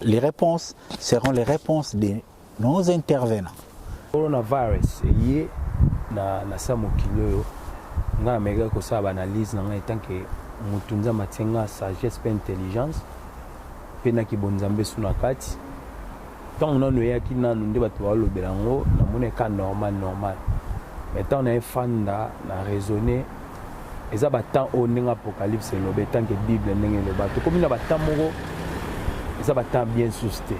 Les réponses seront les réponses de nos intervenants. Coronavirus eye na na sa mokili oyo nga na meka ko sa analyse na nga etant que mutu nzambe atinga sagesse pe intelligence pe na kibonzambe suna kati ntango nanu eyaki nanu nde bato baolobela yango namoni eka normal normal mais ntango na efanda na raisonne eza ba temps oyo ndenge apocalypse eloba etanke bible ndenge eloba tokomi na ba temps moko eza ba temps bien sous te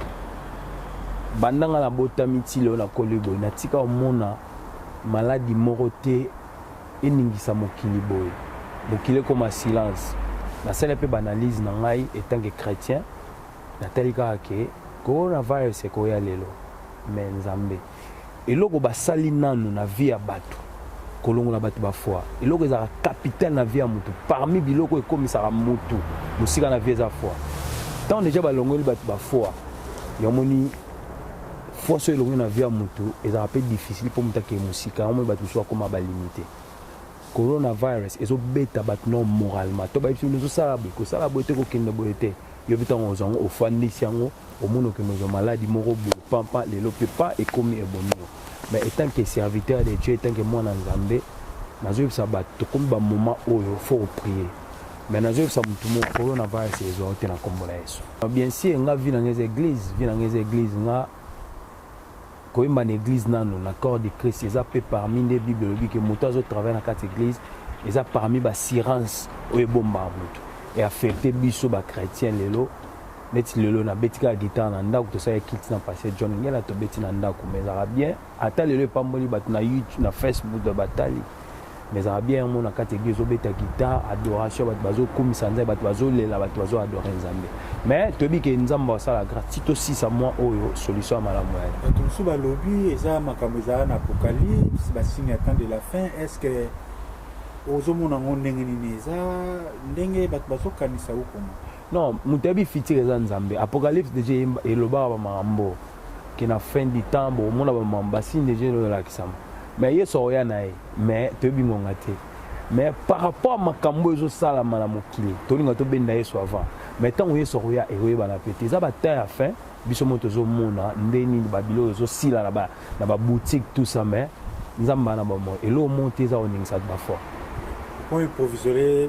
banda nga nabotami ti lelo nakoli boye natika omona maladi moko te eningisa mokili boye mokili ekoma silence nasala mpe baanalyse na ngai etanke chrétien natali kaka ke coronavirus ekoya lelo me nzambe eloko basali nanu na vie ya bato kolongola bato bafwa eloko ezalaka capital na vie ya motu parmi biloko ekomisaka motu mosika na vie eza fwa ntango deja balongoli bato bafwa yamoni fwa so elongoli na vie ya motu ezalaka mpe difficile mpo motu akee mosika yamoni bato mosusu bakoma balimite coronavirus ezobeta bato no moralement to bayebisi bino ezosala boye kosala boye te kokende boye te yobi ntango ozango ofandisi yango omoni okende ozwa maladi moko boye pampa lelo mpe pa ekomi ebomi yo mais etant que serviteur de dieu etant que mwana nzambe nazoyebisa bato tokomi bamoment oyo fo oprie mais nazoyebisa motu moko coronavirus ezwa yo te na nkombo na yesu bien sûr nga vi na nga eza église vi na nga eza église nga Koyemba na eglise nanu na corps de Christ eza pe parmi nde Bible elobi ke moto azo travailler na kati eglise eza parmi ba sirance oyo ebombaka moto e affecte biso ba chrétien lelo neti lelo nabeti kaka guitare na ndako tosala kiti na pasteur John Ngela tobeti na ndako mais ezalaka bien ata lelo epamboli bato na YouTube na Facebook batali mais ezalaka bien yango na kati eglise obeta guitare adoration bato bazokumisa nzambe bato bazolela bato bazo adore nzambe mais toyebi ke nzambe asala grâce ti tosisa mwa oyo solution ya malamu ya bato mosusu balobi eza makambo ezala na apocalypse basigne ya temps de la fin est ce que ozomona yango ndenge nini eza ndenge bato bazokanisa okoma non moto ayebi fitire eza nzambe apocalypse deja elobaka bamakambo que na fin du temps bo mona ba mam ba signe déjà le la kisama mais yeso oya na ye mais to bi ngonga te mais par rapport à makambo ezo sala mala mokili to linga to benda yeso avant mais tant que yeso oya e oye bana pete za ba temps à fin biso mo to zo mona ndeni ba bilo zo sila na ba na ba boutique tout ça mais nzamba na ba mo et l'eau monte za oningisa ba fort point provisoire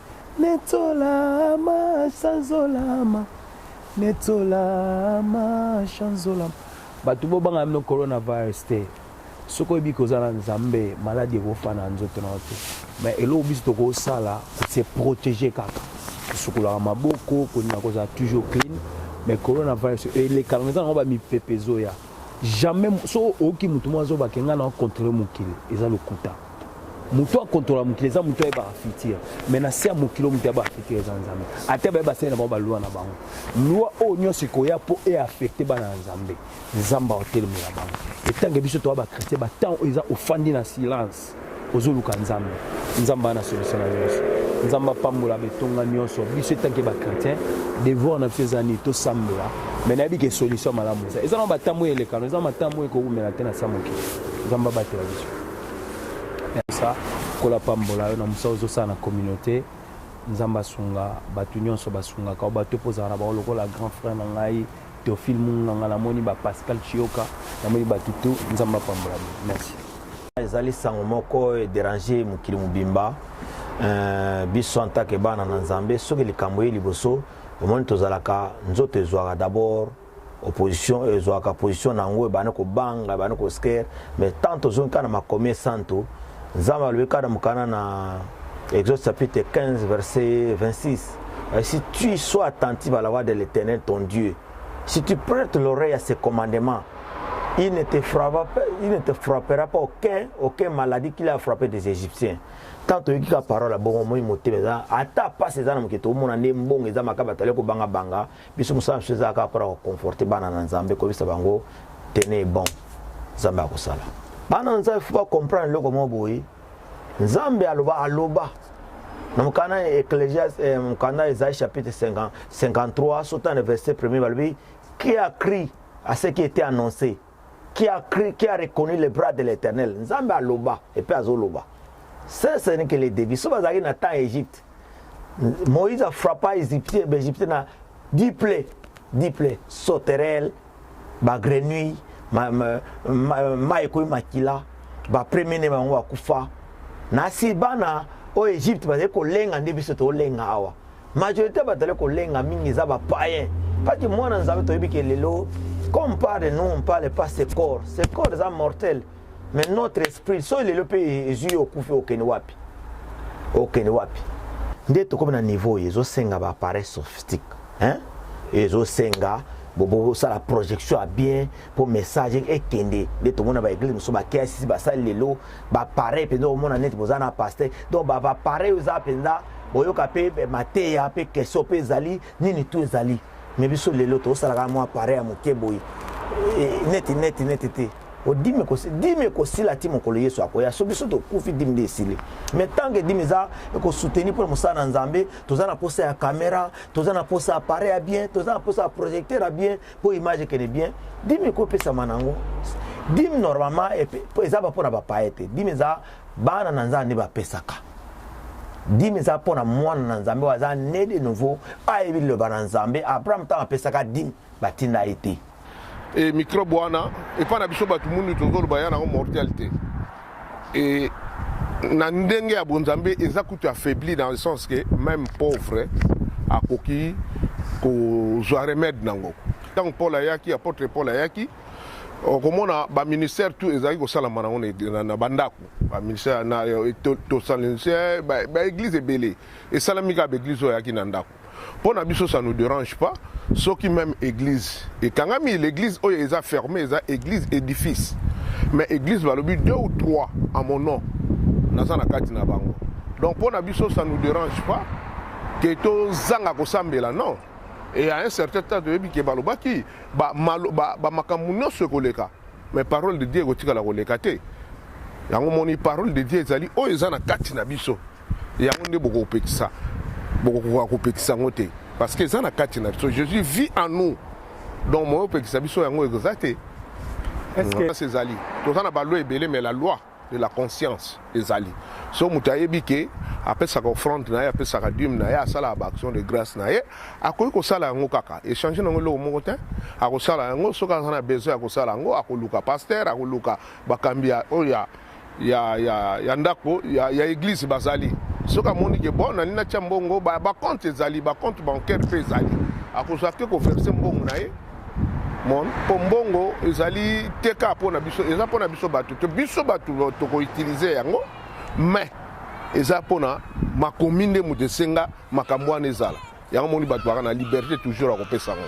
Netolama, chanzolama. Netolama, chanzolama. Bato bo banga mino coronavirus te. Soki oyebi koza na Nzambe, maladi ekofa na nzoto na yo te. Mais eloko biso tokosala, se protéger kaka. Kosukolaka maboko, kolinga kozala toujours clean. Mais coronavirus elekaka eza nango ba mipepe ezoya. Jamais so oyoki moto moko azoba kenga na contrôler mokili, eza lokuta. moto ya contrôle mokili eza moto ayebaka futur mais na se ya mokili moto ayebaka futur eza nzambe ata baye basali na bango balwa na bango lwa oyo nyonso ekoya mpo eaffecte bana ya nzambe nzambe aotelemela bango etange biso toya bachrétien batemp oyo eza ofandi na silence ozoluka nzambe nzambe ana solution na nyonso nzambe apambola betonga nyonso biso etanke bachrétien devoir na biso eza nini tosambela mai nayebi ke solution malamu eza eza na batemp oyo elekano eza na batemp oyo ekoumela te na sa mokili nzambe abatela biso sa kola pambola yo na mosala ozosala na communauté nzambe asunga bato nyonso basungaka o bato mpo ozala na bango lokola grand frère na ngai teofile munganga namoni ba pascal chioka namoni bato to nzambe apambola bino merci ezali sango moko ederange mokili mobimba euh, biso antake bana na nzambe soki likambo ye liboso omoni tozalaka nzoto ezwaka d'abord opposition oyo ezwaka position na yango ebandi kobanga ebandi kosker mais tant tozongi kaka na makomi esantu nzambe alobi kaka na mokana na exode chapitre 15 verset 26 euh, si tu sois attentif à la voix de l'éternel ton dieu si tu prêtes l'oreille à ses commandements il ne te frappera pas, il ne te frappera pas aucun, aucun maladie qu'il a frappé des Égyptiens. Tant que la parole a bon moment moté mais ata pas ces âmes qui tout monde en mbongo eza makaba tale ko banga banga biso mosala biso eza kaka mpona koconforte bana na nzambe koyebisa bango tene bon nzambe akosala bana na nzambe fo bacomprendre eloko moko boye nzambe aloba aloba na mokanda ya eklesia eh, mokanda ezali chapitre 53 sota na verset premier balobi qui a cri à ce qui était annoncé qui a cri qui a reconnu le bras de l'éternel nzambe aloba epe azoloba sese nike le devis so bazalaki na temps ya egypte Moïse a frappa Égyptien, Égyptien na diple, diple, sauterelle, ba grenouille, ma ma ma, ma ekoyi makila, ba premier ne bango akufa. Na si bana au Égypte ba ko lenga nde biso to lenga awa. Majorité ba tale ko lenga mingi za ba païen. Pas que moi na nzambe to yebi que lelo comme parle nous on parle pas ce corps. Ce corps est mortel. mais notre esprit soki lelo mpe ezwi yo okufi okende wapi okende wapi nde tokomi na niveau oyo ezosenga baappareil sophistique hein? ezosenga bosala projection ya bien mpo message ekende nde tomona baeglise mosusu bakiasisi basali lelo bapareil mpenza omona neti boza na paster donc bapareil oyo eza mpenza boyoka mpe eh, mateya mpe question mpe ezali nini tu ezali me biso lelo tosalaka mwa pareil ya moke boye eh, neti neti neti te o dime ko dime ko sila ti mokolo yesu akoya so biso tokufi dime nde esili mais tant que dime eza ekosoutenir mpo na mosala na nzambe toza na mposa ya caméra toza na mposa appareil ya bien toza na mposa ya projecteur ya bien mpo image ekende bien dime ekopesama nango dime normalement eza mpo na bapaye te dime eza bana na nzambe nde bapesaka dime eza mpo na mwana na nzambe oyo aza ne de nouveau ayebi liloba na nzambe abraham ntango apesaka dime batinda ye te e microbe wana epai na biso bato mundu tozoloba ya nango mortel te e na ndenge ya bonzambe eza kutu affaibli dans le sens que même pauvre akoki kozwa remède nango ntango paul ayaki apotre paul ayaki okomona baministère tout ezalaki kosalama nango na bandako baministère tosalinse baeglize ebele esalami kaka baeglize oyo ayaki na ndako mpo na biso ça nous dérange pas soki même église ekangami l'église oyo eza fermé eza église édifice mais église balobi deux ou trois à mon nom naza na kati na bango donc mpo na biso ça nous dérange pas ke tozanga kosambela non et à un certain temps toyebi ke balobaki bamakambo ba, ba, ba nyonso ekoleka mais parole de dieu ekotikala koleka te yango moni parole de dieu ezali oyo eza na kati na biso yango nde bokopekisa bokokoka kopekisa yango te parce que eza na kati na biso jésus vit en nous donc moyo opekisa biso yango eza te conscience ezali toza na baloi ebele mais la loi de la conscience ezali so moto ayebi ke apesaka offrande na ye apesaka dime na ye asalaka baaction de grâce na ye akoki kosala yango kaka échange nango eloko moko te akosala yango soki aza na besoin ya kosala yango akoluka pasteur akoluka bakambi oyo ya ya, ya, ya ndako ya, ya eglise bazali soki amoni ke bon nani natya mbongo bacompte ba ezali bacompte bancaire mpe ezali akozwa te koverse mbongo na ye mon mpo mbongo ezali te kaka mpo na biso eza mpo na biso bato te biso bato tokoutilize yango mais eza mpo na makomi nde moto esenga makambo wana ezala yango moni bato baka na liberté toujours ya kopesa yango